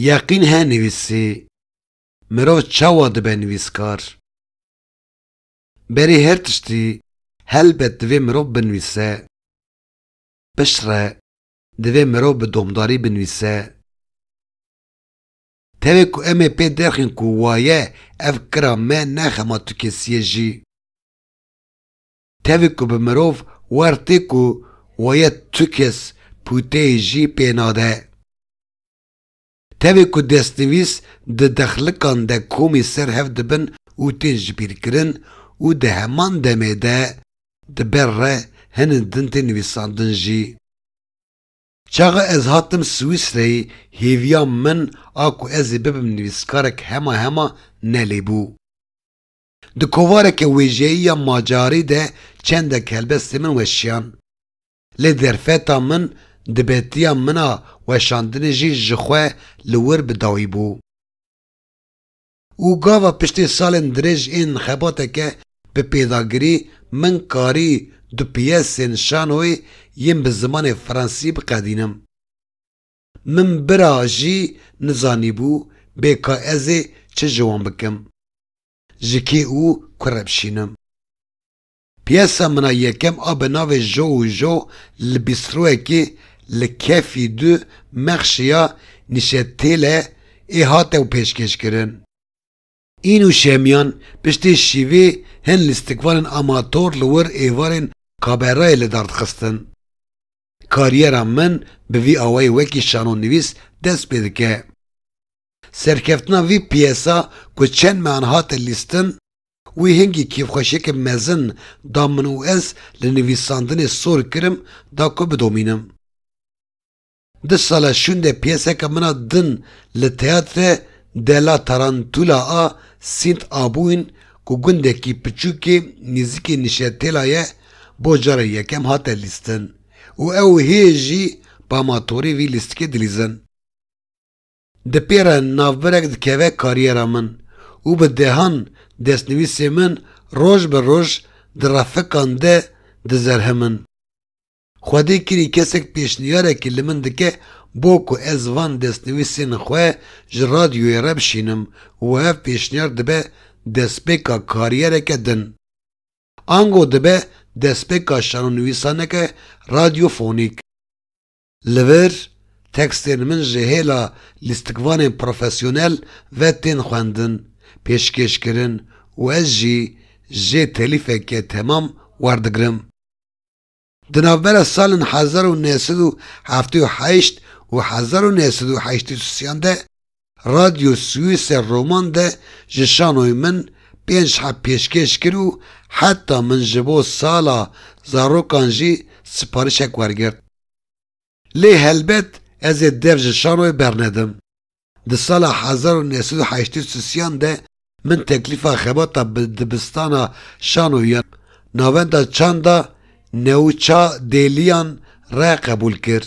Yeqîn he nivîsî, Mirov çawa dibe nivîskar? Berî her tiştî helbet divê mirov binivîse. Piştre divê mirov bi domdarî binivîse. Tevê ku em ê pê derxin ku waye ev kira me ne xema tu kesî ye jî. Tevî ku bi mirov wer tê ku weye tu kes pûteyê jî pê nade. Tevî ku destnivîs di dexlikan de komî ser hev dibin û tên jibîrkirin û di heman demê de di ber re hinin din tê nivîsandin jî. Çaxa ez hatim Swîsreyê hêviya min a ku ez ê bibim nivîskarek hema hema ne lê bû. Di kovareke wêjeyî ya Macarî de çendek helbestên min weşiyan. Lê derfeta min di betiya min a weşandinê jî ji xwe li wir bi dawî bû. Û gava piştê salên dirêj ên xebateke bi pêdagirî min karî du piyesên şanoyê yên bi zimanê fransî biqedînim. Min bira jî nizanîbû bê ka ez ê çi ji wan bikim, ji kê û ku re bişînim. Piyesa min a yekem a bi navê Jo û Jo li bîstroyekê li Kefî du mexşiya Nîşetêle ê hate û pêşkêşkirin. În û Şemiyan piştî şîvê hin lîstikvanên amator li wir êvarên Kaberayê li dar dixistin. Kariyera min bi vî awayî wekî şanonivîs dest pê dike. Serkeftina vî piyesa ku çend mehan hate lîstin, wî hingî kêfxweşiyeke mezin da min û ez li nivîsandinê sor kirim da ku bidomînim. Di sala şûndê piyeseke min a din li Teyatre della Tarantula a Sint Abûin ku gundekî piçûkê nîzikî Nişetêla ye bo cara yekem hate lîstin û ew hê jî pamatorî vî lîstikê dilîzin. Di pê re navbirek dikeve kariyera min û bi dehan destnivîsê min roj bi roj di refikan de dizerhimin. Xwedî kirî kesek pêşnîyarekî li min dike bo ku ez van destnivîsên xwe ji radyoyê re bişînim û ev pêşnîyar dibe destpêka karîyereke din. Ango dibe destpêka şanonivîsaneke radyofonîk. Li vir, tekstên min ji hêla lîstikvanên profesyonel ve tên xwendin, pêşkêşkirin û ez jî jê telîfeke temam werdigirim. Di navbera salên hezar û neh sed û heftê û heşt û hezar û neh sed û heştê û sî yan de Radyo Suîsê Roman de ji şanoyê min pênc heb pêşkêş kir û heta min ji bo sala zarokan jî siparîşek wergirt. Lê helbet ez ê dev ji şanoyê bernedim. Di sala hezar û neh sed û heştê û sisiyan de min teklîfa xebata bi dibistana şano ya Navenda Çanda Newça Dêliyan re qebûl kir.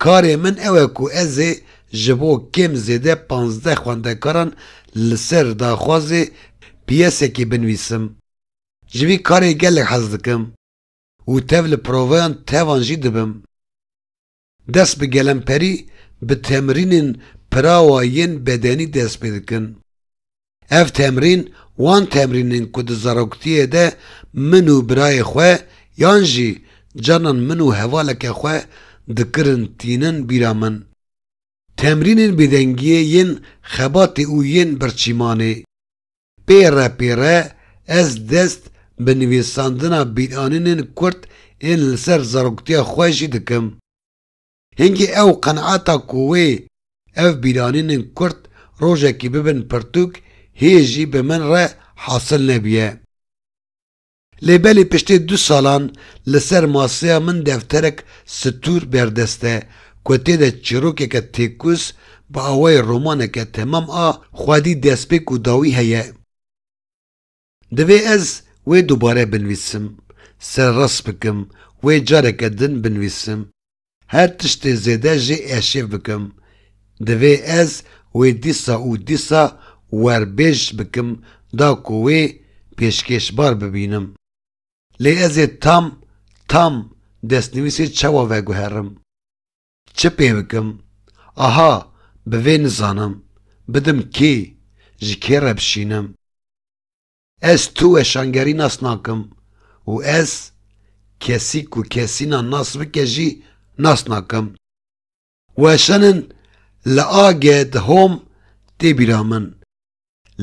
Karê min ew e ku ez ê ji bo kêm zêde pazdeh xwendekaran li ser daxwazê pîyesekê binivîsim. Ji vî karê gelek hez dikim û tev li provayan tevan jî dibim. Dest bi gelemperî bi temrînên pirawa yên bedenî dest pê dikin. Ev temrîn wan temrîn in ku di zaroktiyê de min û birayê xwe yan jî carnan min û hevaleke xwe dikirin tînin bîra min. Temrînên bêdengiyê yên xebatê û yên birçîmanê. Pêre pêre ez dest bi nivîsandina bîranînên kurt ên li ser zaroktiya xwe jî dikim. Hingî ew qenata ku wê ev bîranînên kurt rojekî bibin pirtûk hê jî bi min re hasil nebiye. Lê belê piştê du salan li ser maseya min defterek stûr berdest e ku tê de çîrokeke têkûz bi awayê romaneke temam a xwedî destpêk û dawî heye. Divê ez wê dubare binivîsim, serrast bikim, wê careke din binivîsim. Her tiştê zêde jê eşev bikim, divê ez wê dîsa û dîsa werbêj bikim da ku wê pêşkêşbar bibînim. Lê ez ê tam tam destnivîsê çawa veguherim? Çi pê bikim? Aha, bi vê nizanim, bidim kê, ji kê re bişînim? Ez tu weşangerî nas nakim û ez kesî ku kesîna nas bike jî nas nakim. Weşanin li age di hom tê bîra min.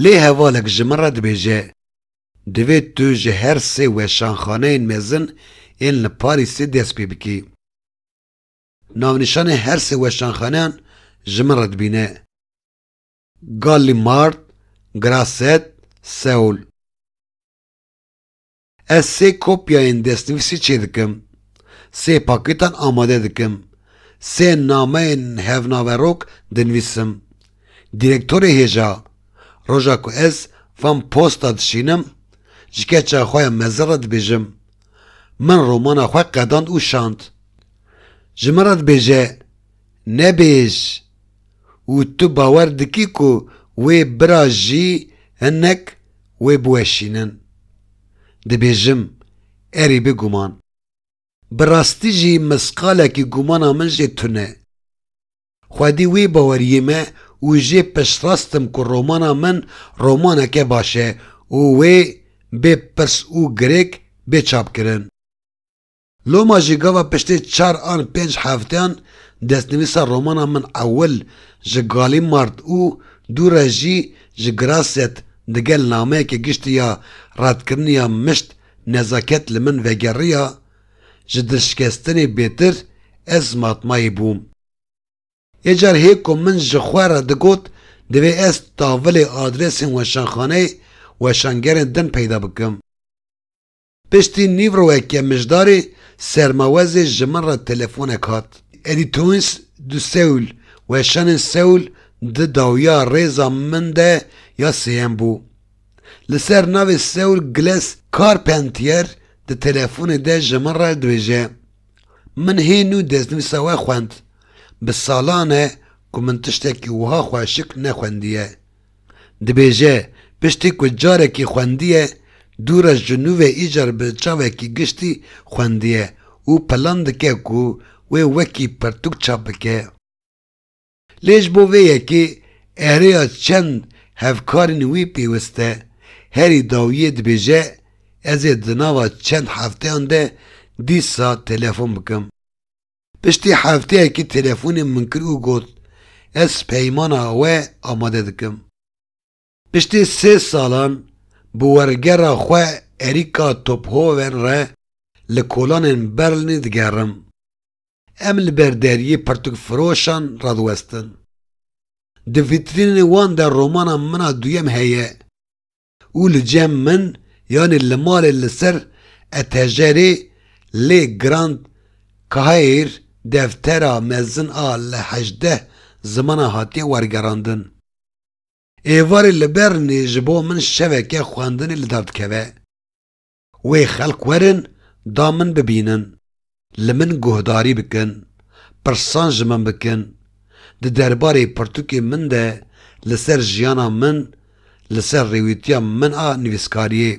Lê hevalek ji min re dibêje, Divê tu ji her sê weşanxaneyên mezin ên li Parîsê dest pê bikî. Navnîşanên her sê weşanxaneyan ji min re dibîne. Gallimard, Grasset, Seul. Ez sê kopyayên destnivîsê çêdikim, sê pakêtan amade dikim, sê nameyên hevnaverok dinivîsim. Dîrektorê hêja, roja ku ez van posta dişînim, ji keça xwe ya mezin re dibêjim, Min romana xwe qedand û şand. Ji min re dibêje, Nebêj, û tu bawer dikî ku wê bira jî hinek wê biweşînin. Dibêjim, erî bi guman. Bi rastî jî misqalekî gumana min jê tune. Xwedî wê baweriyê me û jê piştrast im ku romana min romaneke baş e û wê bê pirs û girêk bê çapkirin. Loma jî gava piştê çar an pênc hefteyan destnivîsa romana min ewil ji Gallimard û dû re jî ji Grasset digel nameyekê giştî ya redkirinê ya mişt nezaket li min vegeriya, ji dilşikestinê bêtir ez matmayî bûm. Yê car hê ku min ji xwe re digot divê ez tavilê adresên weşanxaneyê weşangerên din peyda bikim. Piştî nîv rojeke mijdarê sermawezê ji min re telefonek hat. Êdî Towins du Seul, weşanên Seul di dawiya rêza min de ya sêyem bû. Li ser navê Seul Gles Carpentier di telefonê de ji min re dibêje, Min hê nû destnivîsa we xwend. Bi salan e ku min tiştekî wiha xweşik nexwendiye. Dibêje, piştî ku carekî xwendiye, du rej ji nû ve îcar bi çavekî giştî xwendiye û plan dike ku wê wekî pirtûk çap bike. Lê ji bo vê yekê erêya çend hevkarên wî pêwist e. Herî dawiyê dibêje, Ez ê di nava çend hefteyan de dîsa telefon bikim. Piştî hefteyekî telefonê min kir û got ez peymana we amade dikim. Piştî sê salan bi wergera xwe erîka Tophoven re li kolanên Berlinê digerim. Em li ber deriyê pirtûkfiroşan radiwestin. Di vîtrînên wan de romana min a duyem heye. û li cem min yanî li malê li ser etejerê lê Grand Caire deftera mezin a li hejdeh zimanan hatiye wergerandin. Êvarê li Bernê ji bo min şeveke xwendinê li dar dikeve. Wê xelk werin da min bibînin, li min guhdarî bikin, pirsan ji min bikin, di derbarê pirtûkên min de li ser jiyana min, li ser rêwîtiya min a nivîskariyê.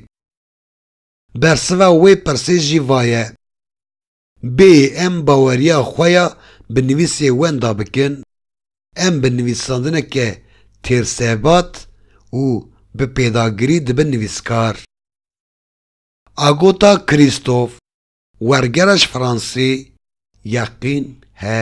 Bersiva wê pirsê jî va ye. Bê em baweriya xwe ya bi nivîsê wenda bikin, em bi nivîsandineke têrsebat û bi pêdagirî dibin nivîskar. Agota Krîstof, wergera ji Fransê, Yeqîn he.